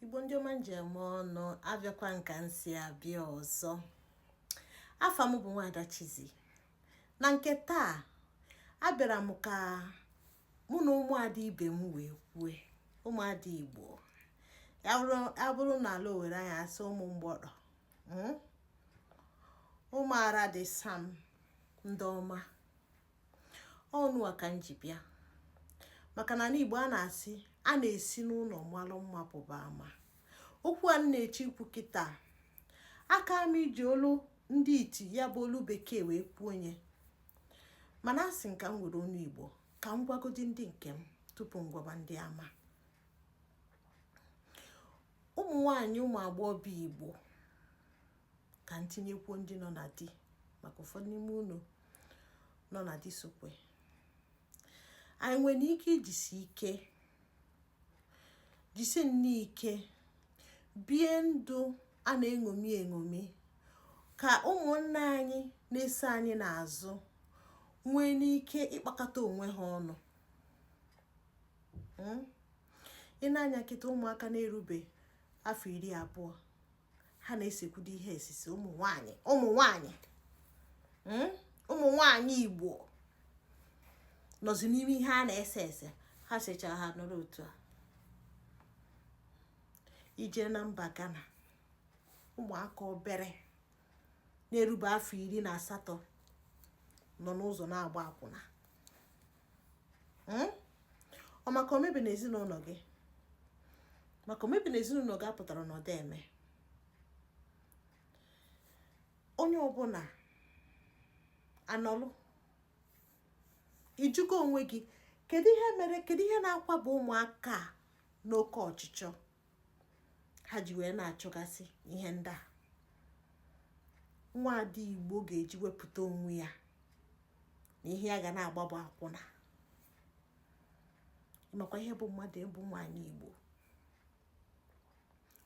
igbo ndị ọma m ji eme ọnụ abịakwa m ka m si abịa ọzọ afa m bụ nwaada Chizzy na nke taa abịara m ka mụ na ụmụada ibe m wee kwue ụmụada igbo ya bụrụ na ala owere anyị asị ụmụ mgbọtọ hmm? ụmụara dị sam ndị ọma unu a ka m ji bịa maka na n'Igbo a na-asị a na-esi n'ụnọ malụ mma pụba ama okwu a m na-eche ikwu kịta aka m iji olu ndị iti ya bụ olu bekee wee kwuo ya mana asị m ka m were onu Igbo ka m gwagodi ndị nke m tupu m gwaba ndị ama ụmụ nwanyị ụmụ agbọghọbịa Igbo ka m tinyekwuo ndị nọ na di maka ụfọdụ n'ime unu nọ na di sokwe anyị nwere ike ijisi ike jisi nne ike bie ndụ a na-eṅomi eṅomi ka ụmụnne anyị na-eso anyị n'azụ nwee n'ike ịkpakọta onwe ha ọnụ hmm? i nee anya kịta ụmụaka na-erube afọ iri abụọ ha na-esekwudo ihe esise ụmụ nwanyị ụmụ nwanyị hmm? ụmụ nwanyị igbo nọzi n'ime ihe a na-ese ese ha secha ha nọrọ otu a i jee na mba Ghana ụmụaka obere na-erube afọ iri na asatọ nọ n'ụzọ na-agba akwụna hmm? ọ maka o mebi na ezinụlọ gị maka o mebi na ezinụlọ gị apụtarọ na ọ dị eme onye ọbụla anọlụ ị jụgo onwe gị kedu ihe mere kedu ihe na-akwaba ụmụaka a n'oke ọchịchọ ha ji wee na-achọgasị ihe ndị a nwaada igbo ga-eji wepụta onwe ya na ihe ya ga na-agba bụ akwụna ị makwa ihe bụ mmadụ ịbụ nwaanyị igbo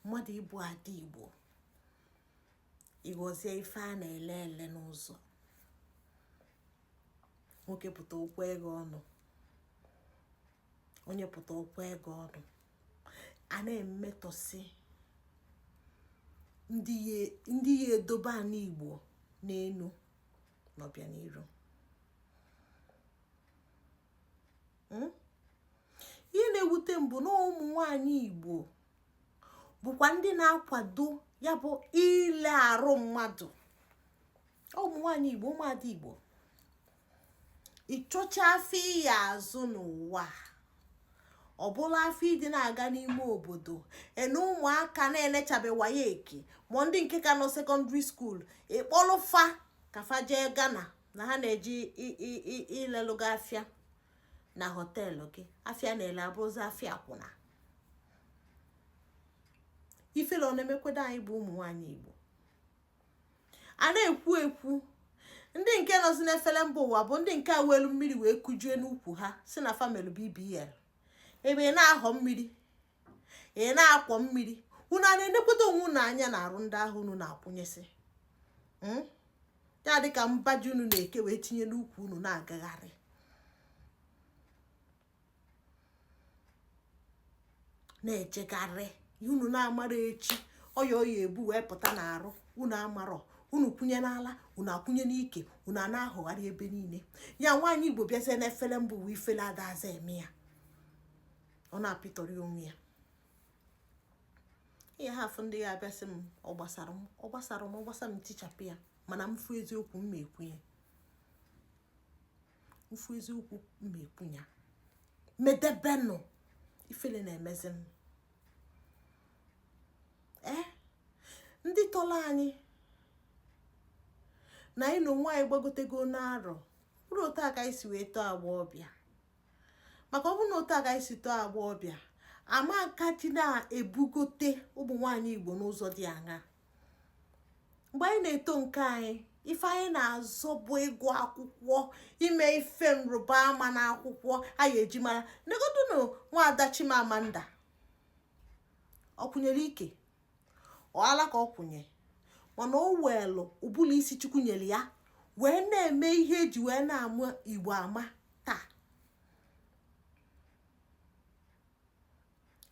mmadụ ịbụ ada igbo ịghọzie ife a na-ele ele n'ụzọ nwoke pụta o kwee gị ọnụ onye pụta o kwee gị ọnụ a na-emetọsị ndị ya-edobe ana igbo n'elu n'ọbịaniru hmm? ihe na-ewute m bụ na ụmụ nwanyị igbo bụkwa ndị na-akwado ya bụ ile arụ mmadụ ụmụ nwaanyị igbo ụmụada igbo ị chọcha afịa ị ya-azụ n'ụwa ọ bụlụ afịa ịdị na-aga n'ime obodo ene ụmụaka na-enechabe waec ma ndị nke ka nọ secondary school ị kpọlụ fa ka fa jee ghana na ha na-eje ilelụ gị afịa na hotel gị afịa na-ele abụrụzi afịa akwụna ifele ọ na-emekwado anyị bụ ụmụ nwaanyị igbo a na-ekwu ekwu ndị nke nọzi n'efere mba ụwa bụ ndị nke welu mmiri wee kujue n'ukwu ha sị na fa melụ bbl ebe ị na-ahọ mmiri ị na-akwọ mmiri unu a na-enekwado onwe unu anya na arụ ndị ahụ unu na-akwụnyesị hmm? ya dịka mba ji unu na-eke wee tinye n'ukwu unu na-agagharị na-ejegharị unu na-amara echi ọya ọ ya-ebu wee pụta n'arụ unu amarọ unu kwụnye n'ala unu akwụnye n'ike unu a na-ahụgharị ebe niile ya nwaanyị igbo bịazie n'efere mba ụwa ifele adazi eme ya ọ na-apịtọrị onwe ya ihe ha afụ ndị ya-abịa sị m ọ gbasara m ọ gbasara m ọ gbasara m tichapụ ya mana m fụ eziokwu m na-ekwu ya m fụ eziokwu m na-ekwu ya medebenụ ifele na-emezi m ee eh? ndị tọrọ anyị na anyị na onwe anyị gbagotego n'arọ bụrụ otu a ka anyị si wee too agbọghọbịa maka ọ bụrụ na otu a ka anyị si too agbọghọbịa ama nka ji na-ebugote ụmụ nwaanyị igbo n'ụzọ dị aṅaa mgbe anyị na-eto nke anyị ife anyị na-azọ bụ ịgụ akwụkwọ ime ife nrụba ama n'akwụkwọ a ya-eji mara negodunu nwaada Chimamanda ọ kwụnyere ike ọ ala ka ọ kwụnye mana o weelụ ụbụlụ isi chukwu nyere ya wee na-eme ihe e ji wee na-ama igbo ama taa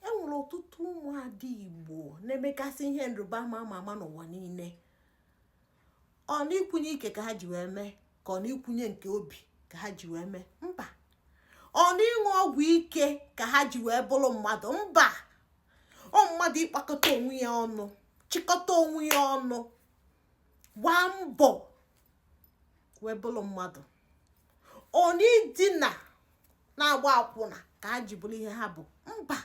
e nwere ọtụtụ ụmụada igbo na-emegasị ihe nrịba ama ama ama n'ụwa niile ọ n'ikwunye ike ka ha ji wee mee ka ọ n'ikwunye nke obi ka ha ji wee mee mba ọ n'ịṅụ ọgwụ ike ka ha ji wee bụrụ mmadụ mba ọ mmadụ ịkpakọta onwe ya ọnụ chịkọta onwe ya ọnụ gbaa mbọ wee bụrụ mmadụ ọ na idina na-agba akwụna ka ha ji bụrụ ihe ha bụ mba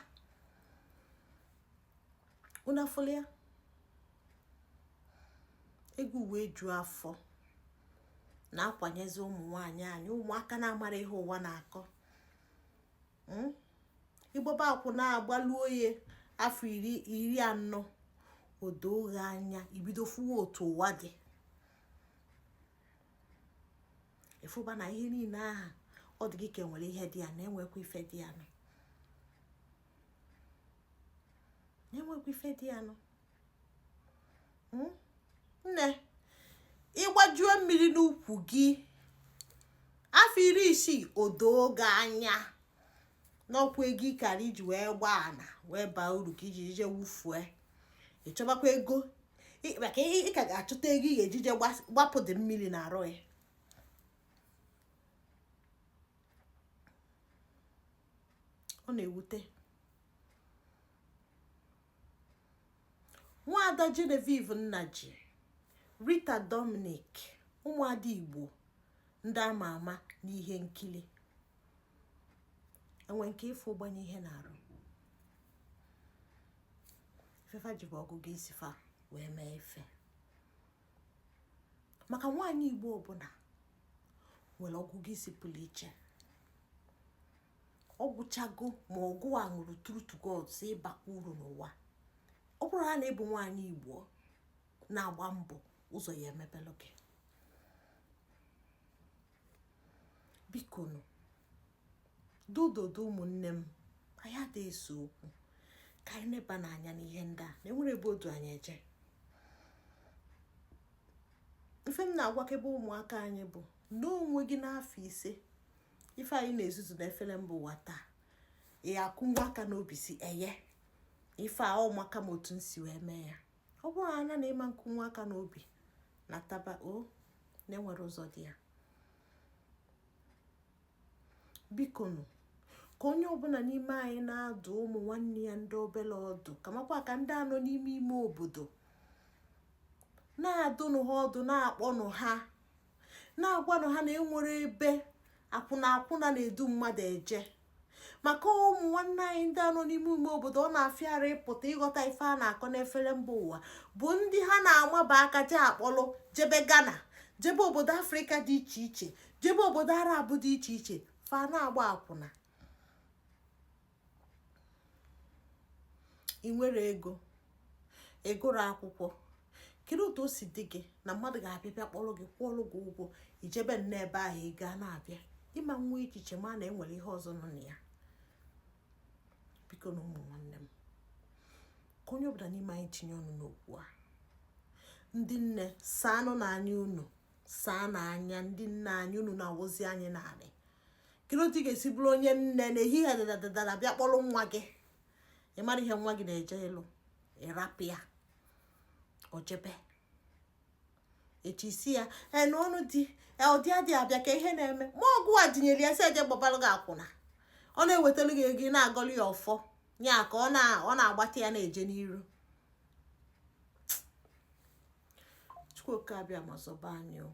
unu afụlụ ya ego wee ju afọ na-akwanyezi ụmụ nwanyị anyị ụmụaka na-amarọ ihe ụwa na-akọ hmm? ịgbaba akwụna gbaluo ya afọ iri anọ o doo gị anya i bido fụwa otu ụwa dị ịfụba na ihe niile ahụ ọ dị gị ka enwere ihe dị ya na enwekwa ife dị ya nụ na-enwekwa ife dị ya nụ hmm? nne ịgbajuo mmiri n'ukwu gị afọ iri isii o doo gị anya na ọ kwa ego ị kara iji wee gbaa ana wee baa uru ka i ji je wufue ịchọbakwa ego maka ị ka ga-achọta ego ị ga-eji je gbapụ dị mmiri n'arụ ya ọ na-ewute nwaada Genevieve Nnaji Rita Dominic ụmụada Igbo ndị ama ama n'ihe nkili enwe nke ị fụ gbanye ihe n'arụ ife fa ji bụ ọgụgụ isi fa wee mee ife maka nwaanyị igbo ọbụla nwere ọgụgụ isi pụrụ iche ọ gwụchago ma ọ gụwa ṅụrụ true to God sị ị bakwa uru n'ụwa ọ bụrụ na ị bụ nwaanyị igbo na-agba mbọ ụzọ ya-emepelụ gị biko nụ dododo ụmụnne m anyị ada ese okwu ka anyị nebanụ anya n'ihe ndị a na enwerọ ebe o du anyị eje ife m na-agwakebe ụmụaka anyị bụ n'onwe gị n'afọ ise ife anyị na-ezuzu n'efere mba ụwa taa ị ya-akụnwu aka n'obi sị eye ife a ọ maka m otu m si wee mee ya ọ bụrụ ya na ị ma akụnwu aka n'obi nataba o na enwerọ ụzọ dị ya biko nụ ka onye ọbụla n'ime anyị na-adụ ụmụ nwanne ya ndị obere ọdụ kamakwa ka ndị a nọ n'ime ime obodo na-adụnụ ha ọdụ na-akpọnụ ha na-agwanụ ha na enwerọ ebe akwụna na-edu mmadụ eje maka ụmụ nwanne anyị ndị a nọ n'ime ime obodo ọ na-afịara ịpụta ịghọta ife a na-akọ n'efere mba ụwa bụ ndị ha na-amaba aka je akpọlụ jebe Ghana jebe obodo afrịka dị iche iche jebe obodo arab dị iche iche fa na-agba akwụna ị nwere ego ị gụrụ akwụkwọ kedu otu o si dị gị na mmadụ ga-abịa bịa kpọrọ gị kwụọrụ gị ụgwọ i jebe nne ebe ahụ ị gaa na-abịa ị ma enwe echiche ma na e nwere ihe ọzọ nọ na ya bikonụ ụmụ nwanne m ka onye ọbụla n'ime anyị tinye ọnụ n'okwu a ndị nne saanụnụ anya unu saanụ anya ndị nne anyị unu na-awụzi anyị n'anị kedu otu ị ga-esi bụrụ onye nne n'ehihie dadadadara bịa kpọrọ nwa gị ị marọ ihe nwa gị na-eje ịlụ ị rapụ ya o jebe echi si ya e, na ọnụ di e, ọdị adị abịa ka ihe na-eme ma ọ gịwa dunyere ya sị ya je gbabalụ gị akwụna ọ na-ewetara gị ego ị na-agọlụ ya ọfọ ya ka ọ na-agbata ya na-eje n'iru chukwu oke abịama zọba anyị o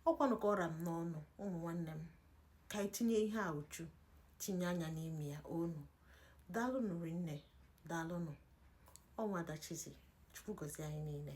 ọ kwanụ ka ọ ra m n'ọnụ ụmụ nwanne m ka anyị tinye ihe a uchu tinye anya n'ime ya unu daalụnụ rinne daalụnụ ọ nwada chizi chukwu gozie anyị niile